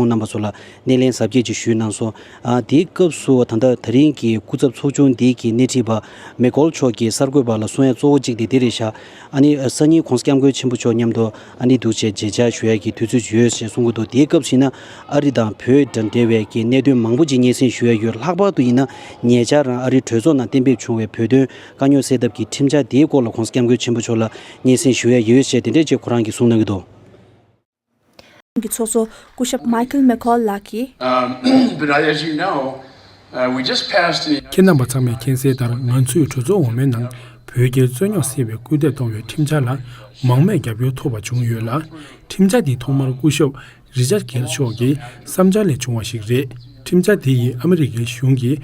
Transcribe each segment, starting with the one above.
ཁོང་རྣམ་པ་ཚོ་ལ་སྣེ་ལེན་གཟབ་རྒྱས་ཀྱིས་ཞུས་གནང་སོང། དེའི་སྐབས་སུ་ད་ལྟ་ད་རིང་གི་སྐུ་ཚབ་ཚོགས་ཆུང་འདི་གི་སྣེ་ཁྲིད་པ་མེག་ཀོལ་མཆོག་གིས་གསར་འགོད་པ་ལ་གསུང་ཡ་གཙོ་བོ་གཅིག་དེ་འདི་རེད་ཤག་ཨ་ནི་སང་ཉིན་ཁོང་སྐྱབས་མགོན་ཆེན་པོ་མཆོག་མཉམ་དུ་ཨ་ནི་འདུག་ཅེས་མཇལ་བཅར་ཞུ་ཡ་གི་དུས་ཚོད་ཡོད་ཞེས་གསུང་གི་འདུག་དེའི་སྐབས་ཤིག་ན་ཨ་རི་དང་བོད་དང་འབྲེལ་བའི་གི་གནད་དོན་མང་པོ་ཅིག་སྙན་སེང་ཞུ་ཡ་ཡོད་ལྷག་པར་དུ་ཡིན་ན་ཉེ་ཆར་རང་ཨ་རི་གྲོས་ཚོགས་ནང་གཏན་འབེབས་བྱུང་བའི་བོད་དོན་དཀའ་རྙོག་སེལ་ཐབས་ཀྱི་ཁྲིམས་འཆར་དེའི་སྐོར་ལ་ཁོང་སྐྱབས་མགོན་ཆེན་པོ་མཆོག་ལ་སྙན་སེང་ཞུ་ཡ་ཡོད་ཞེས་དེ་འདྲས་ཅིག་ཁོ་རང་གིས་གསུང་གནང་གི་འདུག། ཁོང་གི་ཚོགས་གཙོ་སྐུ་ཞབས Michael McCaul ལགས་ཀྱིས། ཁྱེད་རྣམ་པ་ཚང་མས་མཁྱེན་གསལ་ལྟར་ང་ཚོས་གྲོས་ཚོགས་འོག་མའི་ནང་བོད་རྒྱའི་རྩོད་རྙོག་སེལ་བའི་སྐུལ་འདེད་གཏོང་བའི་ཁྲིམས་འཆར་ལ་མང་མོས་རྒྱབ་སྐྱོར་ཐོབ་པ་བྱུང་ཡོད་ལ། ཁྲིམས་འཆར་འདི་ཐོག་མར་སྐུ་ཞབས Richard Gale མཆོག་གི་བསམ་འཆར་ལས་བྱུང་བ་ཞིག་རེད། ཁྲིམས་འཆར་འདི་ཡིས་ཨ་མི་རི་ཀའི་གཞུང་གིས་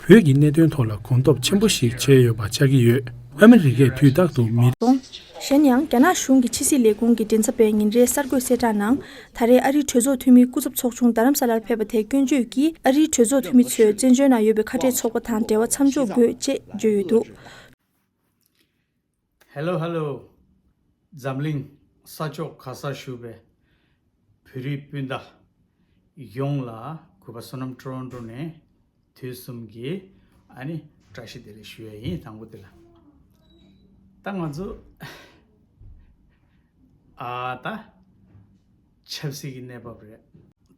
བོད་ཀྱི་གནད་དོན་ཐོག་ལ་གོམ་སྟོབས་ཆེན་པོ་ཞིག་བྱས་ཡོད་པ་ཆགས་ཀྱི་ཡོད། ཨ་མི་རི་ཀས་དུས་རྟག་ཏུ་མི། སོང། གཞན་ཡང་རྒྱ་ནག་གཞུང་གི་ཕྱི་སྲིད་ལས་ཁུངས་ཀྱི་མགྲིན་ཚབ་པས་ཉིན་རེའི་གསར་འགོད་གསལ་བསྒྲགས་ནང། ད་རེས་ཨ་རིའི་གྲོས་ཚོགས་འཐུས་མིའི་སྐུ་ཚབ་ཚོགས་ཆུང་རྡ་རམ་ས་ལར་ཕེབས་པ་དེ་སྐྱོན་བརྗོད་ཀྱིས་ཨ་རིའི་གྲོས་ཚོགས་འཐུས་མི་ཚོས་བཙན་བྱོལ་ནང་ཡོད་པའི་ཁ་བྲལ་ཚོགས་པ་དང་འབྲེལ་བ་མཚམས་འཇོག་དགོས་ཅེས་བརྗོད་ཡོད་འདུག། Hello Hello། འཛམ་གླིང་ས་ཕྱོགས་ག་སར་བཞུགས་པའི་བོད་རིགས་སྤུན་ཟླ་ཡོངས་ལ་གུས་པ་བསོད་ནམས་སྤྲོ་བ་འགྲོ་ནས་དུས་གསུམ་གྱི་ཨ་ནི་བཀྲ་ཤིས་བདེ་ལེགས་ཞུ་ཡ་ཡིན་དང་པོ་དེ་ལ། ད་ང་ཚོ་ཨ་ད་ཆབ་སྲིད་ཀྱི་གནས་བབ་རེད།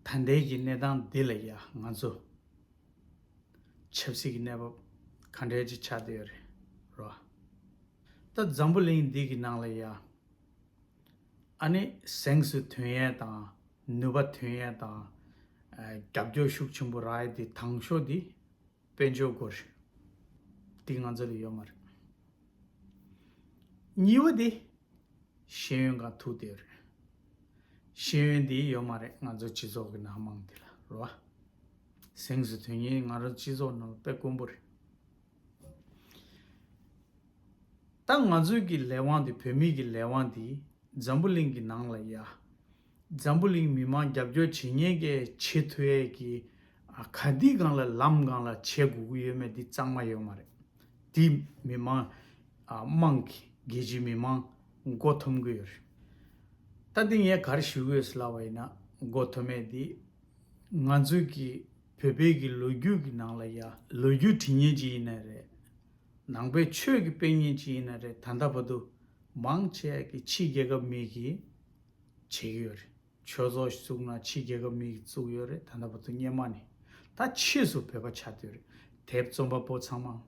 ད་ལྟའི་གི་གནས་སྟངས་འདི་ལ་ཡ་ང་ཚོ་ཆབ་སྲིད་ཀྱི་གནས་བབ་ག་འདྲའི་ཅི་ཆགས་དེ་རེད་རོ། ད་འཛམ་བུ་གླིང་འདི་གི་ནང་ལ་ཡ་ཨ་ནི་གཟེངས་སུ་དོན་ཡལ་དང་ནུས་པ་དོན་ཡལ་དང་རྒྱབ་སྐྱོར་ཤུགས་ཆེན་པོ་རག་ཡ་དེ་དང་ཤོག་དེ་དཔལ་འབྱོར་སྒོར་རེད་དེ་ང་ཚོ་ལ་ཡོད་མ་རེད། གཉིས་བ་དེ་ཤེས་ཡོན་གང་ཐུག་དེ་རེད། ཤེས་ཡོན་དེ་ཡོད་མ་རེད་ང་ཚོ་སྤྱི་ཚོགས་ཀྱི་ནང་མང་དེ་ལ་རོ། གཟེངས་སུ་དོན་གཉེར་ང་རང་སྤྱི་ཚོགས་ནང་དཔེ་དཀོན་པོ་རེད། ད་ང་ཚོའི་གི་ལས་དབང་དེ་བོད་མིའི་གི་ལས་དབང་དེ་འཛམ་བུ་གླིང་གི་ནང་ལ་ཡ། འཛམ་བུ་གླིང་མི་མང་རྒྱབ་སྐྱོར་བྱེད་ཉེན་ཀའི་ཆེས་མཐོ་ཡས་གི་ག་དུས་གང་ལ་ལམ་གང་ལ་བྱེད་དགོས་གི་ཡོད་མེད་དེ་གཙང་མ་ཡོད་མ་རེད། དེ་མི་མང་དམངས་གི་རྒྱལ་སྤྱིའི་མི་མང་མགོ་འཐོམ་གི་ཡོད་རེད། ད་དེ་ངས་གར་ཞུ་དགོས་ལ་བ་ཡིན་ན་མགོ་འཐོམ་མེད་དེ། ང་ཚོས་ཀྱི་བོད་པའི་གི་ལོ་རྒྱུས་ཀྱི་ནང་ལ་ཡ། ལོ་རྒྱུས་དྲི་ཉན་ཅིག་ཡིན་ན་རེད། ནང་པའི་ཆོས་ཀྱི་དཔེ་ཉན་ཅིག་ཡིན་ན་རེད་ད་ལྟ་བར་དུ། མང་ཆེ་གི་ཕྱི་རྒྱལ་ཁབ་མིག་གི། བྱེད་ཀྱི་ཡོད་རེད། ཆོས་ཚོགས་བཙུགས་ན་ཕྱི་རྒྱལ་ཁབ་མིག་གི་བཙུགས་ཡོད་རེད་ད་ལྟ་བར་དུ་སྙེ་མ་ནི། ད་ཕྱིས་སུ་བོད་པ་ཆགས་འདོད་རེད་དེབ་རྩོམ་པ་པོ་ཚང་མ།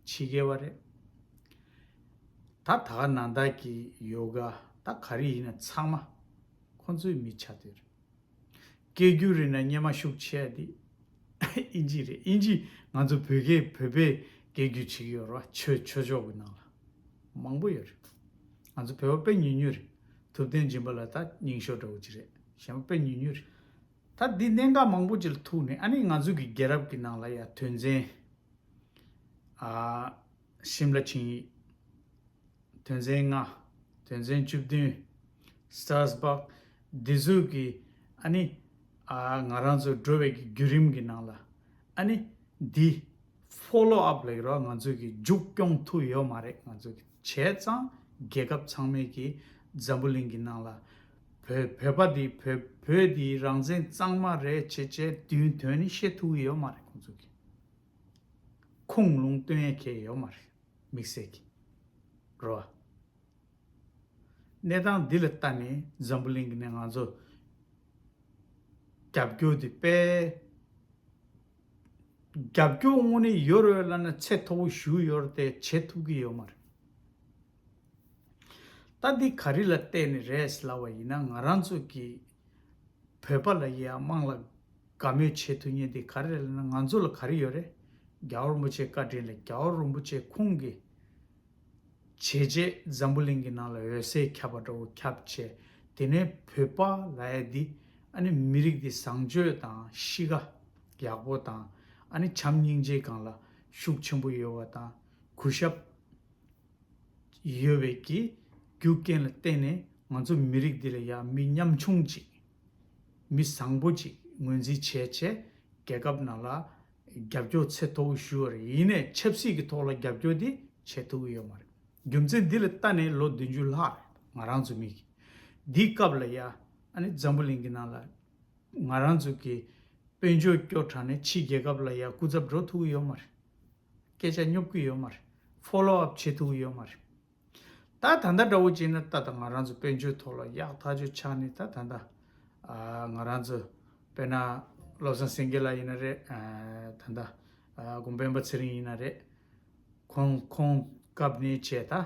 ཕྱི་རྒྱལ་བ་རེད། ད་ད་ག་ནང་བདག་གི་ཡོ་ག་ད་ག་རི་ཡིན་ན་ཚང་མ། ཁོང་ཚོའི་མི་ཆགས་འདོད་རེད། སྐད་སྒྱུར་རིག་ན་སྙན་མ་ཤུགས་ཆེ་འདི། ཨིན་ཇི་རེད་ཨིན་ཇི་ང་ཚོ་བོད་སྐད་བོད་པས་སྐད་སྒྱུར་བྱེད་ཀྱི་ཡོད་རེད་བ་ཆོས་ཆོས་ཕྱོགས་ཀྱི་ནང་ལ་མང་པོ་ཡོད་རེད་ང་ཚོ་བོད་པ་དཔེ་ཉུལ་ཉུལ་རེད་ཐུབ་བསྟན་སྦྱིན་པ་ལ་ད་སྙིང་ཞོ་འདྲ་བོ་ཅིག་རེད་གཞན་པ་དཔེ་ཉུལ་ཉུལ་རེད་ད་འདི་གནད་འགག་མང་པོ་ཅིག་ལ་ཐུག་ནས་ཨ་ནི་ང་ཚོ་གི་རྒྱལ་རབས་ཀྱི་ནང་ལ་ཡ་དོན་ཚན་ཨ། ཤིམ་ལ་ཆིངས་ཡིག། དོན་ཚན་ལྔ། དོན་ཚན་བཅུ་བདུན། Stars Park། འདི་ཟུར་གྱི། ཨ་ནི། ཨ་ང་རང་ཚོ་འགྲོ་བའི་བརྒྱུད་རིམ་གྱི་ནང་ལ། ཨ་ནི། འདི། Follow up། ལེགས་རོགས་ང་ཚོ་གི་མཇུག་སྐྱོང་ཐུབ་ཡོད་མ་རེད་ང་ཚོ་གི་བྱས་ཙང་རྒྱལ་ཁབ་ཚང་མའི་གི་འཛམ་བུ་གླིང་གི་ནང་ལ། བོད་བོད་པ་འདི་བོད་བོད་འདི་རང་བཙན་གཙང་མ་རེད་བྱས་བྱས་དུས་དོན་ནི་ཤེས་ཐུབ་ཡོད་མ་རེད་ཁོང་ཚོ་གི། ཁུངས་ལུང་སྟོན་ཡ་གྱལ་ཡོད་མ་རེད་མིག་སེར་གྱི་རོ་ཨ། གནས་སྟངས་འདི་ལ་ལྟ་ནས་འཛམ་བུ་གླིང་གི་ནས་ང་ཚོ་རྒྱབ་སྐྱོར་འདི་སྤེལ། རྒྱབ་སྐྱོར་དངོས་གནས་ཡོད་རེད་བ་ལ་ན་ཚད་མཐོ་བོ་ཞུ་ཡོད་རེད་དེ་བྱེད་ཐུབ་ཀྱི་ཡོད་མ་རེད། ལྟ་འདི་ག་རི་ལ་བལྟས་ནས་རེད་ཟླ་བ་ཡིན་ན་ང་རང་ཚོ་གི་བོད་པ་ལ་ཡི་དམངས་ལ་དགའ་མོས་བྱེད་ཐུ་ཉེན་འདི་ག་རེ་རེད་ང་ཚོ་ལ་ག་རི་ཡོད་རེད་རྒྱ་བོ་རིན་པོ་ཆེ་བཀའ་དྲིན་ལས་རྒྱ་བོ་རིན་པོ་ཆེ་ཁུང་གི་བྱས་རྗེས་འཛམ་བུ་གླིང་གི་ནང་ལ་འོད་ཟེར་ཁྱབ་པ་འདྲ་བོ་ཁྱབ་བྱས་དེ་ནས་བོད་པ་ལ་ཡ་འདི་ཨ་ནི་མི་རིགས་འདི་བཟང་སྤྱོད་དང་གཤིས་ཀ་ཡག་པོ་དང་ཨ་ནི་བྱམས་སྙིང་རྗེ་གང་ལ་ཤུགས་ཆེན་པོ་ཡོད་བ་དང་གུས་ཞབས། ཡོད་པའི་གི་རྒྱུ་རྐྱེན་ལ་བརྟེན་ནས་ང་ཚོ་མི་རིགས་འདི་ལ་ཡ་མི་ཉམ་ཆུང་ཅིག་མི་བཟང་པོ་ཅིག་ངོས་འཛིན་བྱས་ཆེ་རྒྱལ་ཁབ་ནང་ལ་རྒྱབ་སྐྱོར་ཚད་མཐོ་བོ་ཞུས་བ་རེད་ཡིན་ནས་ཆབ་སྲིད་ཀྱི་ཐོག་ལ་རྒྱབ་སྐྱོར་དེ་བྱེད་ཐུབ་ཀྱི་ཡོད་མ་རེད་རྒྱུ་མཚན་འདི་ལ་ལྟ་ནས་ལོ་བདུན་ཅུ་ལྷག་རེད་ང་རང་ཚོ་མི་གི་འདིའི་སྐབས་ལ་ཡ་ཨནི་འཛམ་བུ་གླིང་གི་ནང་ལ་ང་རང་ཚོ་གི་དཔོན་ཆོས་སྐྱོར་དྲགས་ནས་ཕྱི་རྒྱལ་ཁབ་ལ་ཡ་སྐུ་ཚབ་འགྲོ་ཐུབ་ཀྱི་ཡོད་མ་རེད་སྐད་ཆ་སྙོབ་གི་ཡོད་མ་རེད Follow up བྱེད་ཐུག་ཡོད་མ་རེད། ད་ད་ལྟ་འདྲ་བོ་བྱས་ན་ད་ད་ང་རང་ཚོ་དཔལ་འབྱོར་ཐོག་ལ་ཡག་ཐག་ཆོད་ཆགས་ནས་ད་ད་ད། ང་རང་ཚོ་དཔེར་ན་བློ་བཟང་སེང་གེ་ལགས་ཡིན་ན་རེད། ད་ད་དགོངས་པའི་པ་ཚེ་རིང་ཡིན་ན་རེད། ཁོང་ཁོང་སྐབས་ནས་བྱས་ད།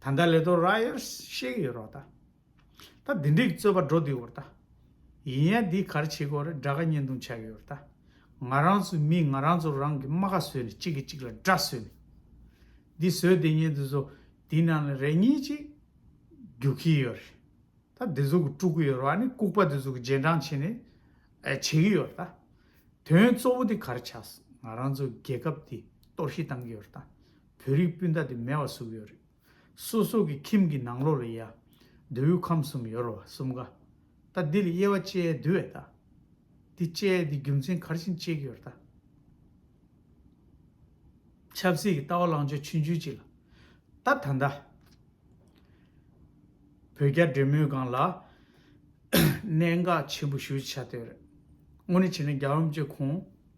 ད་ལྟ་ལས་དོ་ར་ཡར་གཤེགས་ཡོད་རོགས་ད། ད་འདི་འགྲིག་རྩོད་པ་འགྲོ་འདུས་འོར་ད། ཡིན་ཡ་འདི་གར་བྱེད་གོ་རེ་དགྲ་ཁ་བསྙན་ཐུང་ཆགས་ཡོད་རོགས་ད། ང་རང་ཚོའི་མིས་ང་རང་ཚོ་རང་གི་རྨ་ཁ་བཟོས་ནས་གཅིག་གིས་གཅིག་ལ་དགྲ་བཟོས་ནས། འདི་བཟོས་དེ་བསྙན་དུ་བཟོ་འདི་ནང་ལ་རེ་གཉིས་གཅིག་རྒྱུག་གི་ཡོད་རེད་ད། འདི་ཚོ་གི་དཀྲུག་གི་ཡོད་རོགས་ཨ་ནི་ལྐུག་པ་འདི་ཚོ་གི་རྗེས་འབྲང་བྱེད་ནས་བྱེད་གི་ཡོད་རོགས་ད། དོན་གཙོ་བོ་འདི་གར་ཆགས་སོང་ང་རང་ཚོའི་རྒྱལ་ཁབ་འདི་གཏོར་བཤིག་བཏང་གི་ཡོད་རོགས་ད། བོད་རིགས་སྤུན་ཟླ་དེ་མེད་བ་གཟུགས་ཡོད་རེད། སོ་སོ་གི་ཁྱིམ་གི་ནང་ལོག་ལ་ཡ། མདོ་དབུས་ཁམས་གསུམ་ཡོ་རོ་བ་གསུམ་ག། ད་འདི་ལ་དབྱེ་བ་བཅད་འདུལ་བས་ད། འདི་བཅད་འདི་རྒྱུ་མཚན་གར་བཞིན་བཅད་ཀྱི་ཡོ་རེད་ད། ཆབ་སྲིད་ཀྱི་ལྟ་བ་ལང་ཕྱོགས་ཆུང་ཆུང་ཅིག་ལ། ད་ད་ད། བོད་རྒྱ་འབྲེལ་མོལ་སྒང་ལ། གནད་འགག་ཆེན་པོ་ཞུ་བྱ་དོན་རེད། དངོས་གནས་བྱས་ན་རྒྱ་འམ་བཅས་ཁོང།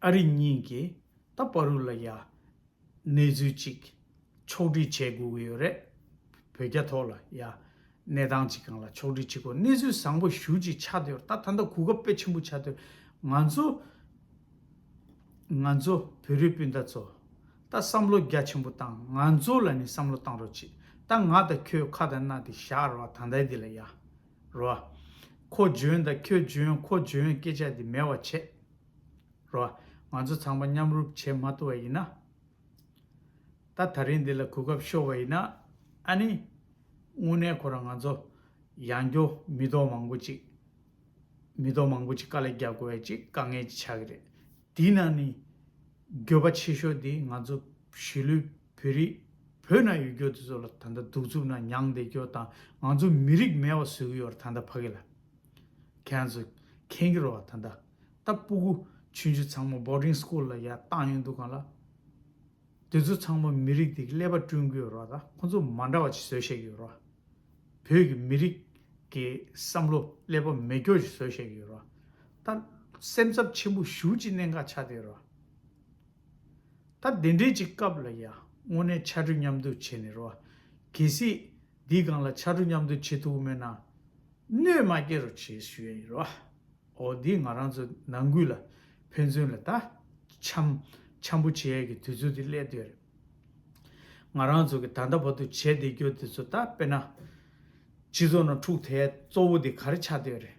ཨ་རི་གཉིས་ཀྱིས་ད་བར་རུ་ལ་ཡ། གནས་ཚུལ་ཅིག་ཕྱོགས་བསྒྲིགས་བྱས་དགོས་ཀྱི་ཡོད་རེད། བོད་རྒྱ་ཐོག་ལ་ཡ། གནས་སྟངས་ཅིག་གང་ལ་ཕྱོགས་བསྒྲིགས་བྱེད་དགོས་གནས་ཚུལ་བཟང་པོ་ཞུ་ཅིག་ཆགས་དུས་ད་ད་ད་གོ་སྐབས་དཔེ་ཆེན་པོ་ཆགས་དུས་ང་ཚོ། ང་ཚོ་བོད་རིགས་སྤུན་ཟླ་ཚོ། ད་བསམ་བློ་རྒྱ་ཆེན་པོ་བཏང་ང་ཚོ་ལ་ནི་བསམ་བློ་བཏང་རོགས་གྱིས་ད་ང་དང་ཁྱོད་ཁ་དང་སྣ་དེ་བཞག་རོགས་ད་ད་འདི་ལ་ཡ། རོ། ཁོ་འཇོན་དང་ཁྱོད་འཇོན་ཁོ་འཇོན་སྐད་ཆ་འདི་མེད་བ་བྱེད། རོ། ང་ཚོ་ཚང་མ་མཉམ་རུབ་བྱེད་མ་ཐུབ་བ་ཡིན་ན། ད་ད་རིང་འདི་ལ་གོ་སྐབས་ཤོར་བ་ཡིན་ན། ཨ་ནི། དངོས་གནས་ཁོ་རང་ང་ཚོ། ཡང་སྐྱོ་མི་ཏོག་མང་པོ་ཅིག། མི་ཏོག་མང་པོ་ཅིག་དཀའ་ལས་རྒྱག་དགོས་བས་ཅིག་དཀའ་ངལ་ཅིག་ཆགས་ཀྱི་རེད། དེའི་ནང་ནས། འགྱོད་པ་ཆེ་ཤོས་དེ་ང་ཚོ་གཞིས་ལུས། བོད་རིགས། བོད་ནང་ཡོད་སྐྱོ་དེ་ཚོ་ལ་ད་ལྟ་གདུག་རྩུབ་ནང་མྱངས་བསྡད་སྐྱོ་དང་ང་ཚོ་མི་རིགས་མེད་བ་བཟོས་གི་ཡོད་ར་ད་ལྟ་ཕ་གི་ལ། ཁྱེད་རང་ཚོ་མཁྱེན་གི་རོ་ད་ལྟ། ད་སྤུ་གུ་ཆུན་ཆུན་ཚང་མ Boarding School ལ་ཡ་བཏང་ཡོད་འདུག་གང་ལ། དེ་ཚོ་ཚང་མ་མི་རིགས་དེ་གི་ཀླད་པ་བསྐྲུན་གི་ཡོད་ར་ད་ཁོང་ཚོ་མ་འདྲ་བ་ཅིག་བཟོས་བཤད་གི་ཡོད་ར། བོད་གི་མི་རིགས་གི་བསམ་བློ་ཀླད་པ་མེད་སྐྱོ་ཅིག་བཟོས་བཤད་གི་ཡོད་ར་ད། སེམས་འཚབ་ཆེན་པོ་ཞུ་ཅིག་གནད་འགག་ཆགས་བསྡད་ཡོད་ར། ད་དེ་འདྲའི་ཅིག་སྐབས་ལ་ཡ་དངོས་གནས་ཕྱར་གྲུ་མཉམ་འདུག་བྱེད་ནི་རོ། གལ་སྲིད། འདིའི་སྒང་ལ་ཕྱར་གྲུ་མཉམ་འདུག་བྱེད་ཐུབ་མེད་ན། གནོད་མ་སྐྱེལ་རོགས་བྱེད་ཞུས་ཡིན་རོ། ཨོ་འདི་ང་རང་ཚོ་ནང་ཁུལ་ལ་ཕན་ཚུན་ལ་ད། འཆམ། འཆམ་པོ་བྱེད་ཡས་ཀྱི་དུས་ཚོད་དེ་སླད་དུ་ཡ་རེད། ང་རང་ཚོ་གི་ད་ལྟ་བར་དུ་བྱས་བསྡད་རྒྱུ་དེ་ཚོ་ད་དཔེར་ན། སྤྱི་ཚོགས་ནང་འཁྲུག་ཐལ་གཙོ་བོ་དེ་ག་རེ་ཆགས་སྡོད་ཡ་རེད།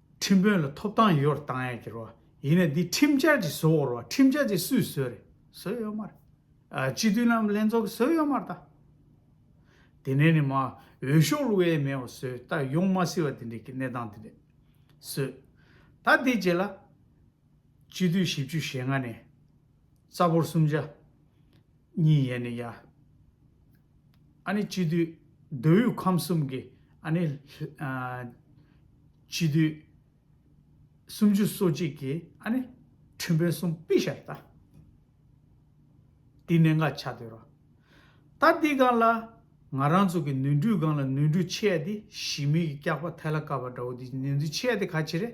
ཁྲིམས་དཔོན་ལ་ཐོབ་ཐང་ཡོད་རེད་བཏང་ཡ་ཁྱེར་བ་ཡིན་ན་འདི་ཁྲིམས་འཆར་གྱི་བཟོ་བོར་བ་ཁྲིམས་འཆར་དེ་སུས་བཟོས་རེད་བཟོས་ཡོད་མ་རེད་སྤྱི་འཐུས་ལམ་ལྷན་ཚོགས་ཀྱི་བཟོས་ཡོད་མ་རེད་ད་དེ་ནས་ནི་མ་འོས་ཤོག་ལུ་ཝེ་མེའོ་བཟོས་ད་ཡོང་མ་སྲིད་བ་དེ་འདྲས་ཀྱི་གནས་སྟངས་དེ་འདྲས་བཟོས་ད་དེ་རྗེས་ལ་སྤྱི་འཐུས་བཞི་བཅུ་ཞེ་ལྔ་ནས་རྩ་འབོར་སུམ་བརྒྱ། གཉིས་ཡས་ནས་ཡ། ཨ་ནི་སྤྱི་བསྡུས། མདོ་དབུས་ཁམས་གསུམ་གྱི་ཨ་ནི། སྤྱི་བསྡུས། སུམ་ཅུ་སོ་གཅིག་གི་ཨ་ནི། ཁྲི་འབོད་གསུམ་པི་ཤར་རྟ། འདི་གནད་འགག་ཆ་དོད་རོ། ད་འདི་སྒང་ལ། ང་རང་ཚོ་གི་ནུས་འགྲུས་སྒང་ལ་ནུས་འགྲུས་ཆེ་ཡ་དེ་གཞི་མེད་ཀྱི་སྐྱག་པ་ཐལ་ལ་བཀབ་པ་འདྲ་བོ་འདི་ནུས་འགྲུས་ཆེ་ཡ་དེ་ག་ཆེ་རེད།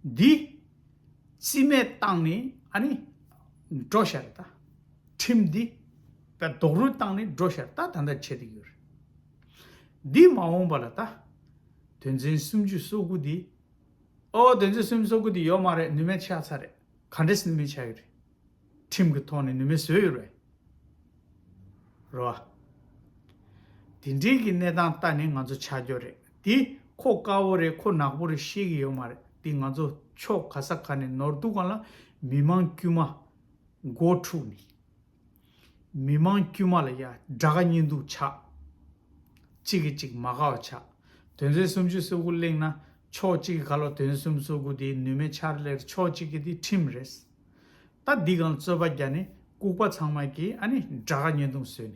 འདི། རྩིས་མེད་བཏང་ནི་ཨ་ནི། འགྲོ་བཞག་རེད་ད། ཁྲིམས་འདི། པའི་རྡོག་རུལ་བཏང་ནི་འགྲོ་བཞག་རེད་ད་ད་ལྟ་བྱེད་དུ་ཡོད་རེད། འདི་མ་འོངས་པ་ལ་ད། དོན་ཚན་སུམ་ཅུ་སོ་དགུ་འདི། ཨོ་དོན་ཚན་སུམ་ཅུ་སོ་དགུ་འདི་ཡོད་མ་རེད་ནུས་མེད་ཆགས་ཚར་རེད་ག་འདྲེས་ནུས་མེད་ཆགས་ཡོད་རེད། ཁྲིམས་ཀྱི་ཐོག་ནས་ནུས་མེད་བཟོས་ཡོད་རེད། རོ། དེ་འདྲིའི་གི་གནས་སྟངས་ལྟ་ནི་ང་ཚོ་ཆ་འཇོག་རེད། དེ་ཁོ་དཀར་བོ་རེད་ཁོ་ནག་པོ་རེད་ཤེས་གི་ཡོད་མ་རེད་དེ་ང་ཚོ་ཕྱོགས་ག་ས་ག་ནས་ནོར་འདུག་ག་ལ་མི་མང་དཀྱུས་མ་མགོ་འཁྲུགས་ནས་མི་མང་དཀྱུས་མ་ལ་ཡ་དགྲ་ག་གཉིས་འདུག་ཆགས་གཅིག་གི་གཅིག་མ་ག་བ་ཆགས་དོན་ཚན་སུམ་ཅུ་སོ་དགུ་གླེང་ན་ཕྱོགས་གཅིག་གི་ག་ལོ་དོན་སུམ་སོ་དགུ་དེ་ནུས་མེད་ཆར་ལེར་ཕྱོགས་གཅིག་གི་དེ་ཁྲིམས་རེད་ད་འདི་གང་རྩོད་པ་རྒྱ་ནས་ལྐུགས་པ་ཚང་མ་གིས་ཨ་ནི་དགྲ་ག་གཉིས་འདུག་ཟོས་ནས།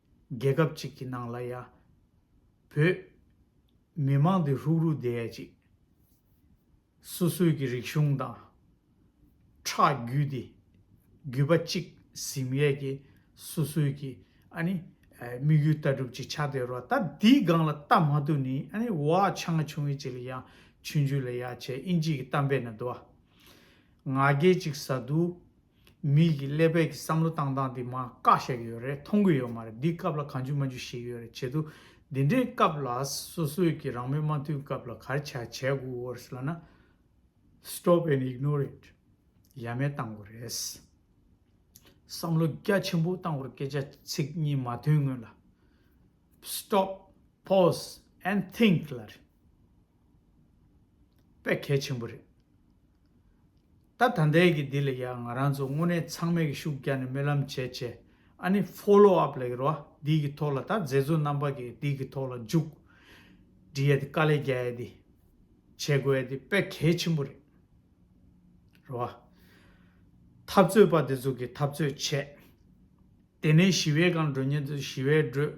རྒྱལ་ཁབ་ཅིག་གི་ནང་ལ་ཡ། བོད། མི་དམངས་འདི་ལྷུག་རུ་བསྡད་ཡ་ཅིག། སོ་སོའི་གི་རིག་གཞུང་དང། ཁྲག་རྒྱུད་འདི། རྒྱུད་པ་གཅིག་གཟིམ་ཡས་གི་སོ་སོའི་གི་ཨ་ནི། དམིགས་ཡུལ་ལྟ་གྲུབ་ཅིག་ཆགས་བསྡད་རོ་ད་འདིའི་སྒང་ལ་ལྟ་མ་ཐུབ་ནི་ཨ་ནི་བ་ཆ་ང་ཆུང་ཡས་ཅིག་ལ་ཡ། ཆུང་ཆུང་ལ་ཡ་བྱས་ཨིན་ཇིའི་གི་གཏམ་དཔེ་ན་དུ་བ། ང་རྒྱལ་ཅིག་ཟ་དུ། མིག་གི་ཀླད་པའི་གི་བསམ་བློ་བཏང་སྟངས་དེ་མ་བཀག་བཤད་གི་ཡོད་རེད་མཐོང་གི་ཡོད་མ་རེད་འདི་སྐབས་ལ་གང་འཇུག་མ་འཇུག་ཞིག་ཡོད་རེད་བྱེད་དུ་འདི་འདྲའི་སྐབས་ལ་སོ་སོས་གི་རང་མོས་མ་མཐུན་སྐབས་ལ་གར་བྱ་བྱས་དགོས་ཨོར་ལ་ན Stop and ignore it ཡ་མེད་བཏང་དགོས་རེད། བསམ་བློ་རྒྱ་ཆེན་པོ་བཏང་དགོས་རེད་སྐད་ཆ་ཚིག་གཉིས་མ་མཐུན་སྔོན་ལ Stop pause and think ལ་རེད། པས་གལ་ཆེན་པོ་རེད། ད་ད་ལྟའི་གི་འདི་ལ་ཡང་ང་རང་ཚོ་དངོས་གནས་ཚང་མས་གི་ཤུགས་རྒྱག་ནས་སྨོན་ལམ་བྱས་བྱས་ཨ་ནི Follow up ལ་གི་རོ་འདི་གི་ཐོག་ལ་ད་མཛད་གཙོ་རྣམ་པ་གི་འདི་གི་ཐོག་ལ་འཇུག་འདྲི་ཡ་དེ་དཀའ་ལས་རྒྱག་ཡ་དེ་བྱེད་དགོས་ཡ་དེ་པས་གལ་ཆེན་པོ་རེད། རོ། འཐབ་རྩོད་པ་དེ་ཚོ་གི་འཐབ་རྩོད་བྱས། དེ་ནས་ཞི་བའི་སྒང་འགྲོ་ཉེན་དུ་ཞི་བའི་འགྲོས།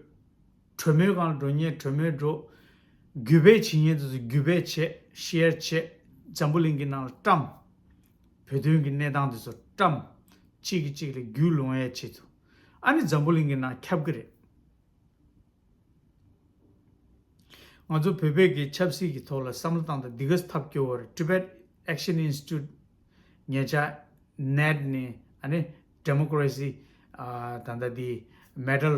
གྲོས་མོལ་གང་ལ་འགྲོ་ཉན་གྲོས་མོལ་འགྲོ། རྒྱུད་སྦས་བྱེད་ཉན་དུས་སུ་རྒྱུད་སྦས་བྱེད share བྱེད། འཛམ་བུ་གླིང་གི་ནང་ལ་བཀྲམ། བོད་དོན་གྱི་གནས་སྟངས་དུས་སུ་བཀྲམ། གཅིག་གིས་གཅིག་ལ་རྒྱུད་ལོང་ཡ་བྱེད་དུས། ཨ་ནི་འཛམ་བུ་གླིང་གི་ནང་ཁྱབ་ཀྱི་རེད། ང་ཚོ་བོད་བོད་ཀྱི་ཆབ་སྲིད་ཀྱི་ཐོག་ལ་བསམ་བློ་བཏང་དང་འདི་ག་ཐབས་སྐྱོ་བོར Tibet Action Institute ཉེ་ཆར་ནད་ནི་ཨ་ནི Democracy ད་ལྟ་འདི Medal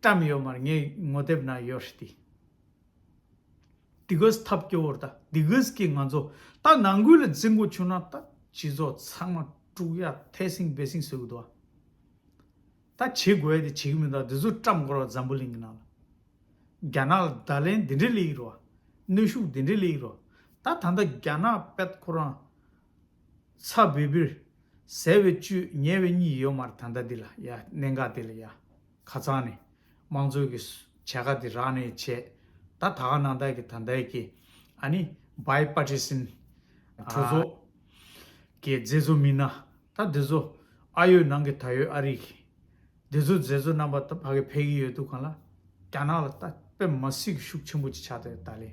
བཀྲམ་ཡོད་མར་ངས་ངོ་དེབ་ནང་ཡོད་རེད་དེ། དེ་གིས་ཐབས་སྐྱོ་བོར་ད་དེ་གིས་ཀྱི་ང་ཚོ་ད་ནང་ཁུལ་ལ་རྫི་མགོ་ཆུ་ན་ད་སྤྱི་ཚོགས་ཚང་མ་དཀྲུག་ཡ་ཐལ་སིང་སྦེ་སིང་བཟོས་གི་འདུག་ད་བྱེད་དགོས་དེ་བྱེད་གི་མི་འདུག་དེ་ཚོ་བཀྲམ་དགོར་བ་འཛམ་བུ་གླིང་གི་ནང་ལ་རྒྱ་ནག་ལ་ད་ལན་དེ་འདྲའི་ལེ་ཡིག་རོ་ཨ་གནོད་ཤུགས་དེ་འདྲའི་ལེ་ཡིག་རོ་ད་ད་ལྟ་རྒྱ་ནག་པད་ཁོ་རང་ཚ་བིར་བིར། ཟེར་བའི་བཅུད་ཉེ་བའི་གཉིས་ཡོད་མར་ད་ལྟ་འདི་ལ་ཡ་གནད་འགག་དེ་ལ་ཡ། ཁ་ཚང་ནས། དམངས་གཙོའི་གི། བྱས་ཁ་དེ་རག་ནས་བྱས། ད་ད་ག་ནང་དག་གི་ད་འདའི་གི། ཨ་ནི། བའི་པ་ཏྲི་སིན། གྲོ་བཟོ། གི་མཛེས་བཟོ་མིན་ན། ད་འདི་ཚོ། ཨ་ཡོད་ནང་གི་ད་ཡོད་ཨ་རིག་གི། འདི་ཚོ་མཛེས་བཟོ་རྣམ་པ་ད་ཕ་གི་ཕས་གི་ཡོད་འདུག་གང་ལ། རྒྱ་ནག་ལ་ད་པད་མ་སྲིད་གི་ཤུགས་ཆེན་པོ་ཅིག་ཆགས་ད་ཡོད་ད་ལེ།